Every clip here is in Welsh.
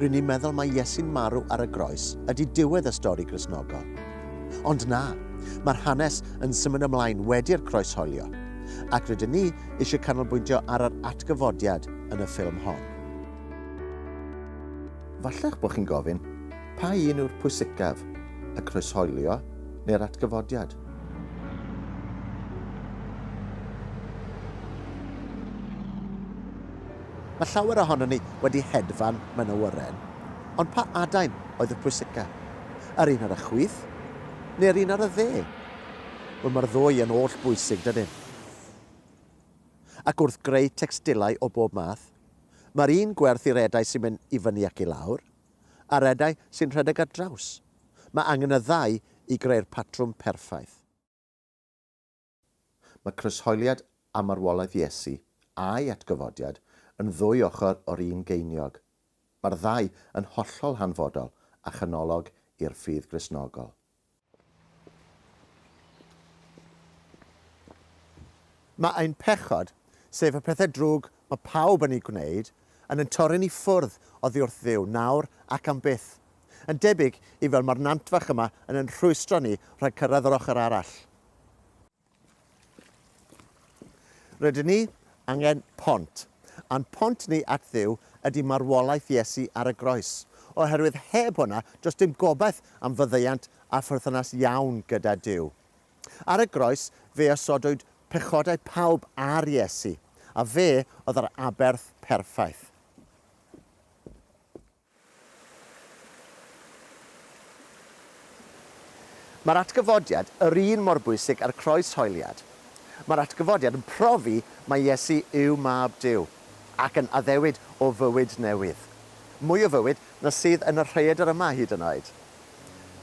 Rŷn ni'n meddwl mai Iesu'n marw ar y groes ydy diwedd y stori Gristnogol. Ond na, mae'r hanes yn symud ymlaen wedi'r croes holio, ac rydyn ni eisiau canolbwyntio ar yr atgyfodiad yn y ffilm hon. Falla'ch bod chi'n gofyn, pa un yw'r pwysicaf, y croeshoelio neu'r atgyfodiad? Mae llawer ohonon ni wedi hedfan mewn awyren, ond pa adain oedd y pwysica? Yr un ar y chwith, neu'r un ar y dde? Wel, mae'r ddwy yn oll bwysig, dydyn? Ac wrth greu tecstilau o bob math, mae'r un gwerth i'r edau sy'n mynd i fyny ac i lawr, a'r edau sy'n rhedeg ar draws. Mae angen y ddau i greu'r patrwm perffaith. Mae croeshoeliad a marwolaeth Iesu, a'i atgyfodiad, yn ddwy ochr o'r un geiniog. Mae'r ddau yn hollol hanfodol a chanolog i'r ffydd Gristnogol. Mae ein pechod, sef y pethau drwg mae pawb yn eu gwneud, yn ein torri ni ffwrdd oddi wrth Dduw nawr ac am byth, yn debyg i fel mae'r nantfach yma yn ein rhwystro ni rhag cyrraedd yr ochr arall. Rydyn ni angen pont. A'n pont ni at Dduw ydy marwolaeth Iesu ar y groes. Oherwydd heb hwnna, does dim gobaith am faddeuant a pherthynas iawn gyda Duw. Ar y groes, fe osodwyd pechodau pawb ar Iesu, a fe oedd yr aberth perffaith. Mae'r atgyfodiad yr un mor bwysig â'r croeshoeliad. Mae'r atgyfodiad yn profi mai Iesu yw Mab Duw, ac yn addewid o fywyd newydd. Mwy o fywyd na sydd yn y rhaeadr yma hyd yn oed.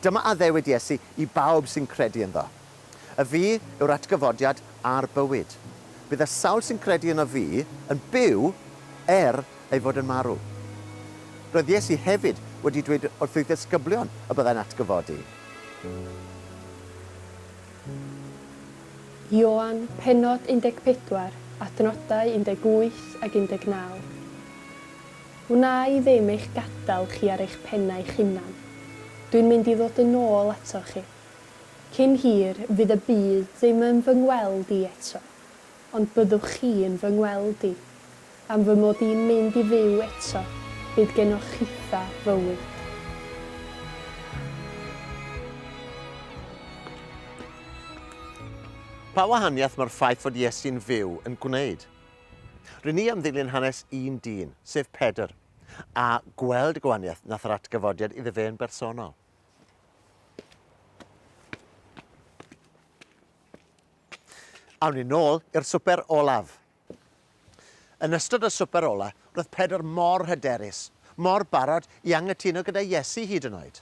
Dyma addewid Iesu i bawb sy'n credu ynddo. Y fi yw'r atgyfodiad a'r bywyd. Bydd y sawl sy'n credu yno fi yn byw er ei fod yn marw. Roedd Iesu hefyd wedi dweud wrth ei ddisgyblion y byddai'n atgyfodi. Ioan, pennod 14, adnodau 18 ac 19. Wna i ddim eich gadael chi ar eich pennau'ch hunan. Dwi'n mynd i ddod yn ôl atoch chi. Cyn hir, fydd y byd ddim yn fy ngweld i eto, ond byddwch chi yn fy ngweld i. Am fy mod i'n mynd i fyw eto, bydd genoch chitha fywyd. Pa wahaniaeth mae'r ffaith fod Iesu'n fyw yn gwneud? Ry'n ni am ddilyn hanes un dyn, sef Pedr, a gweld y gwahaniaeth nath yr atgyfodiad iddo fe yn bersonol. Awn ni nôl i'r swper olaf. Yn ystod y swper ola, roedd Pedr mor hyderus, mor barod i angytuno gyda Iesu hyd yn oed.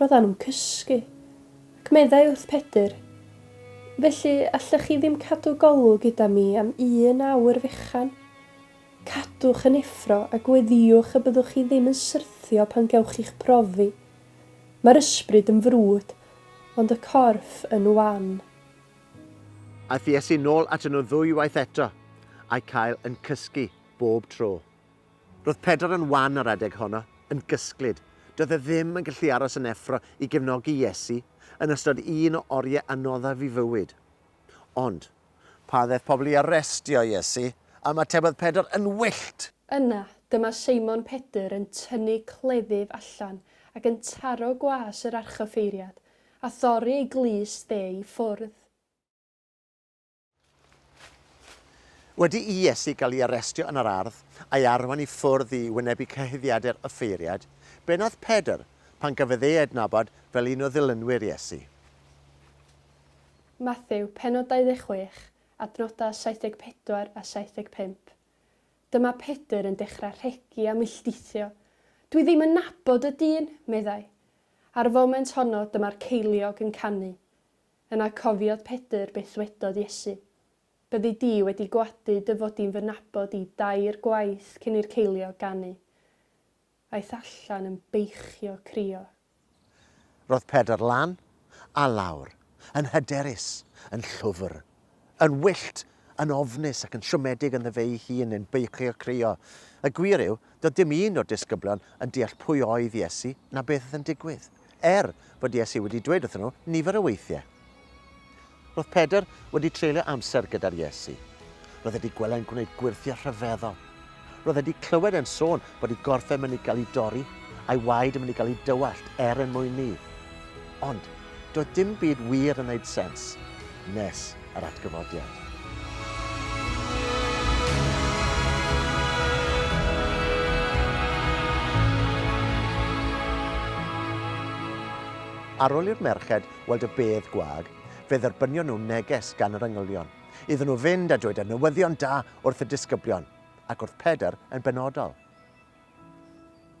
Roeddan nhw'n cysgu, ac meddai wrth Pedr, Felly, allech chi ddim cadw golwg gyda mi am un awr fechan? Cadwch yn effro a gweddïwch y byddwch chi ddim yn syrthio pan gewch chi'ch profi. Mae'r ysbryd yn frwd, ond y corff yn wan. Aeth Iesu nôl atyn nhw ddwywaith eto, a'u cael yn cysgu bob tro. Roedd Pedr yn wan ar adeg honno, yn gysglyd. Doedd e ddim yn gallu aros yn effro i gefnogi Iesu yn ystod un o oriau anoddaf ei fywyd. Ond. Pan ddaeth pobl i arestio Iesu, ymatebodd Pedr yn wyllt! Yna, dyma Seimon Pedr yn tynnu cleddyf allan ac yn taro gwas yr archoffeiriad, a thorri ei glust e i ffwrdd. Wedi i Iesu gael ei arestio yn yr ardd, a'i arwain i ffwrdd i wynebu cyhuddiadau'r offeiriaid, be wnaeth Pedr pan gafodd ei adnabod fel un o ddilynwyr Iesu? Mathew, pennod 26, adnodau 74 a 75. Dyma Pedr yn dechrau rhegi a milltithio. Dwi ddim yn nabod y dyn! meddai. Ar y foment honno, dyma'r ceiliog yn canu. Yna cofiodd Pedr beth ddwedodd Iesu, Byddi di wedi gwadu dy fod di'n fy nabod i dair gwaith cyn i'r ceiliog ganu. Aeth allan yn beichio crio. Roedd Pedr lan a lawr, yn hyderus, yn llwfr, Yn wyllt, yn ofnus ac yn siomedig ynddo fe'i hun yn beichio crio. Y gwir yw, doedd dim un o'r disgyblion yn deall pwy oedd Iesu na beth oedd yn digwydd, er fod Iesu wedi dweud wrthyn nhw nifer o weithiau. Roedd Pedr wedi treulio amser gyda'r Iesu. Roedd e wedi gweled e'n gwneud gwyrthiau rhyfeddol. Roedd e 'di clywed e'n sôn bod ei gorff e'n mynd i gael ei dorri, a'i waed yn mynd i gael ei dywallt er en mwyn 'ny. Ond, doedd dim byd wir yn 'neud sens, nes yr atgyfodiad. Ar ol i'r merched weld y bedd gwag, fe dderbynion nhw neges gan yr engylion. iddyn nhw fynd a dweud y newyddion da wrth y disgyblion, ac wrth Pedr yn benodol.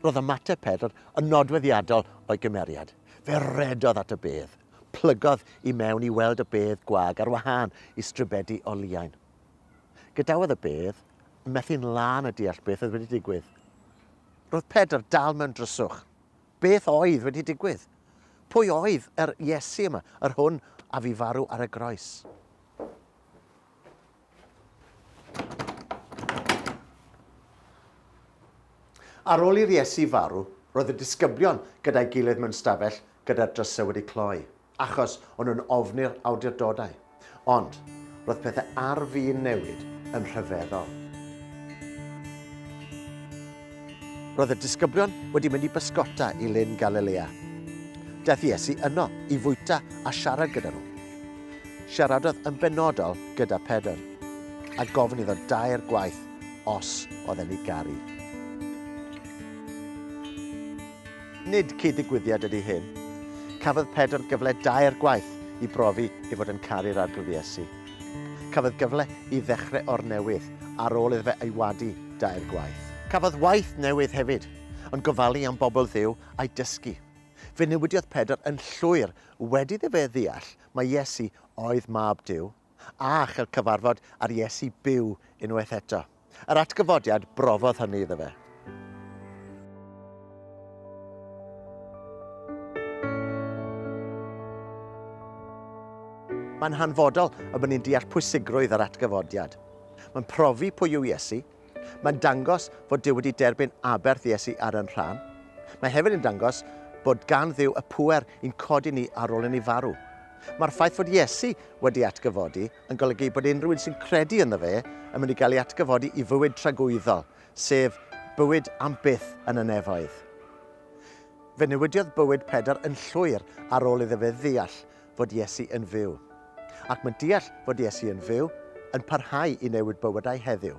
Roedd ymateb Pedr yn nodweddiadol o'i gymeriad. Fe redodd at y bedd, plygodd i mewn i weld y bedd gwag ar wahân i stribedi o liain. Gadawodd y bedd, methu'n lân y deall beth oedd wedi digwydd. Roedd Pedr dal mewn dryswch. Beth oedd wedi digwydd? Pwy oedd yr Iesu yma, yr hwn a fu farw ar y groes? Ar ôl i'r Iesu farw, roedd y disgyblion gyda'i gilydd mewn stafell gyda'r drysau wedi cloi. achos o'n nhw'n ofni'r awdurdodau, ond roedd pethau ar fin newid yn rhyfeddol. Roedd y disgyblion wedi mynd i bysgota i Lyn Galilea. Daeth Iesu yno i fwyta a siarad gyda nhw. Siaradodd yn benodol gyda Pedr, a gofyn iddo dair gwaith os oedd e'n ei garu. Nid cyd-ddigwyddiad ydy hyn. Cafodd Pedr gyfle dair gwaith i brofi ei fod yn caru'r Arglwydd Iesu. Cafodd gyfle i ddechrau o'r newydd ar ôl iddo fe ei wadu dair gwaith. Cafodd waith newydd hefyd, yn gofalu am bobl Dduw a'i dysgu. Fe newidiodd Pedr yn llwyr wedi iddo fe ddeall mai Iesu oedd Mab Duw a chael cyfarfod â'r Iesu byw unwaith eto. Yr atgyfodiad brofodd hynny iddo fe. Mae'n hanfodol y bod ni'n deall pwysigrwydd yr atgyfodiad. Mae'n profi pwy yw Iesu. Mae'n dangos fod Dyw wedi derbyn aberth Iesu ar yn rhan. Mae hefyd yn dangos bod gan Dduw y pŵer i'n codi ni ar ôl i ni farw. Mae'r ffaith fod Iesu wedi atgyfodi yn golygu bod unrhyw un sy'n credu ynddo fe yn mynd i gael ei atgyfodi i fywyd tragwyddol, sef bywyd am byth yn y nefoedd. Fe newidiodd bywyd Pedr yn llwyr ar ôl iddo fe ddeall fod Iesu yn fyw. Ac mae deall fod Iesu yn fyw yn parhau i newid bywydau heddiw.